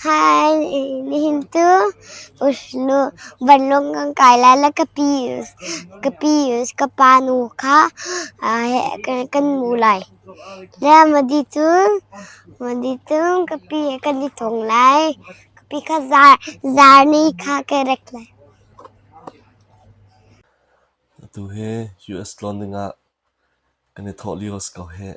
Hi nihin cu vanlawng kan kai lai lai. Ka pa nu kha kan mu lai. Madi cun kan i thong lai. Kapi kha zarni kha kan rak lai. Atu hi US tlawn dingah kan i thawh lio a si ko hih.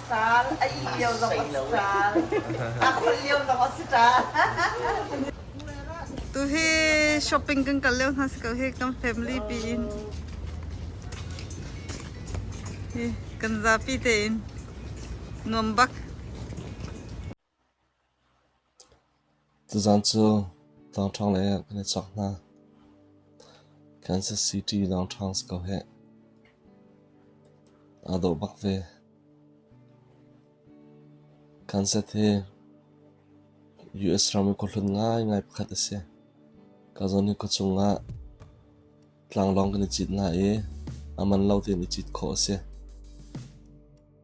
Ṭaal, a ih lio zong a si ṭaal, a kholh lio zong a si ṭaal. Tuhi shopping kan kal lio hna si ko hi kan family pi in hi kan zapi te in nuam bak Tuzaan cu Tlangṭhang lei ah kan i chawk hna. Kansas City Tlangṭhang si ko hih. Aa dawh bak ve. Kansas hi US ram i khuahlun ngaingai pakhat a si. Ka zawn i khuachung ah tlanglawng kan i cit hna i a man lo tein i cit khawh a si.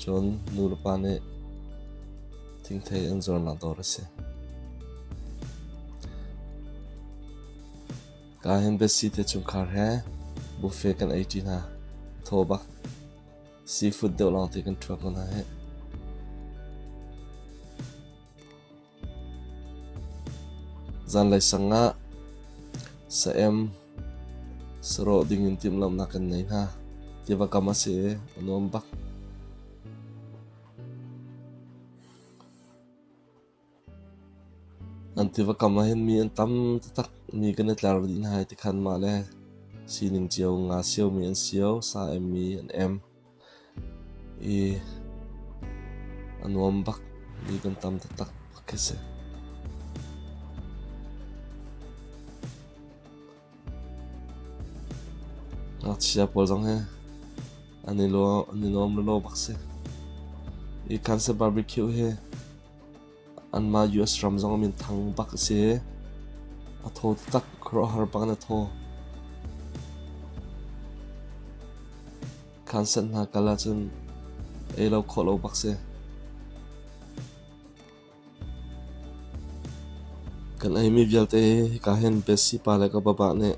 Cun nulepa nih thingthei an zuarnak dawr a si. Ka hin biasi te chungkhar he buffet kan ei ṭi hna. Thaw bak. Seafood deuh lawng te kan thuak hna hih. Zanlei sang ah sa-em sarawh dingin timhlamhnak kan ngei hna. Tiva kam a si i a nuam bak. An tiva kam ah hin mi an tam taktak mi kan i tlar dih hna i tikhan mah le sining cio nga siomi an sio, sa-em mi an em. i a nuam bak mi kan tam taktak bak khi si. Ngakchia pawl zong hi an i nuam lawlaw bak si. I kansa barbecue hi Anmah US ram zong minthang bak a si. A thaw taktak. Khuaruahhar bak in a thaw. Khanset hna kal ahcun ei lo khawh lo bak si. Kan eimi vialte ka hen besi pa le ka baba nih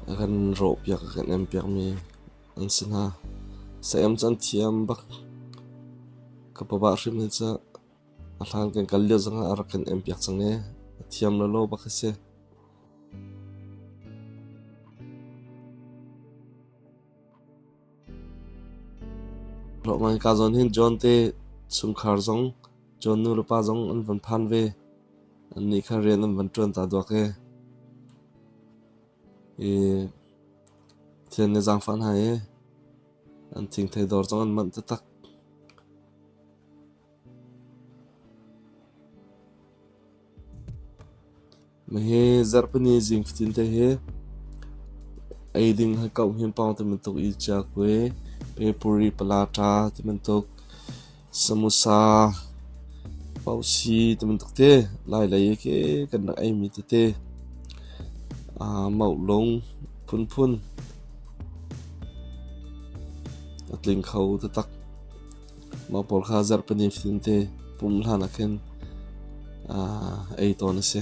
a kan rawh piak a kan em piakmi an si hna. Sayam cu an thiam bak. Ka papa hrim hi cu a hlan kan kal lio zong ah a rak kan em piak cang ee. A thiam lolo bak a si. Roman ka zon hin John te sumkhar zong John nu le pa zong an van phan ve. An nih kha rian an van tuan ta duak ee. i thil an i zaangfah hna i an thingthei dawr zong an manh taktak. Hihi zarhpini zing fatin te hi eiding hakauh hin pawng tibantuk i cia kue, pepuri, pala, ṭa tibantuk Samosa, pausi tibantuk te lailei i ke kan rak eimi tete, aa maulung phunphun, a tling kho taktak. Mah pawl kha zarh pahnih fatin te pumh hlan ah khin aa ei tawn a si.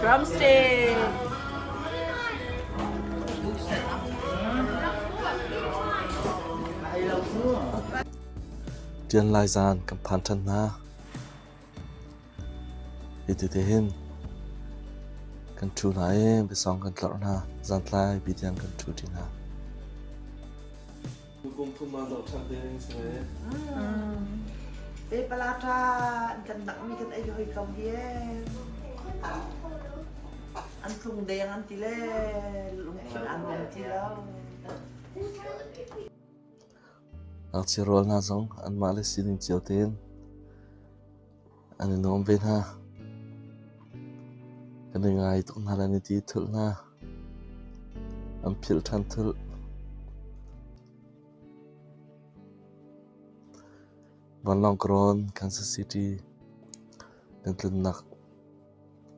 Drum stage. Tian lai zaan kan phan ṭhan hna. Hitete hin kan ṭhu hna i biasawng kan tlarh hna. Zantlai bitiang kan ṭhu ṭi hna. Tukum thum ah zohṭhan ding si ve. Te pala ṭa an kan nakmi kan ei hoi kam hi an tlung deng an ti le lungthin an rong ti lo. Ngakchia rual hna zong anmah le sining cio tein an i nuam ve hna. Kan i ngai tuk hna le an i ti thulh hna. An philh ṭhan thulh. Vanlawng Karawn, Kansas City. Kan tlunnak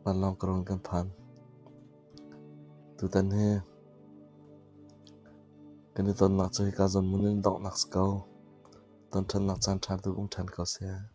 vanlawng Karawn kan phan. Tutan he kan i tonnak cu hika zawn mun in donghnak si ko. Ton ṭhannak caan ṭha tu um ṭhan ko seh.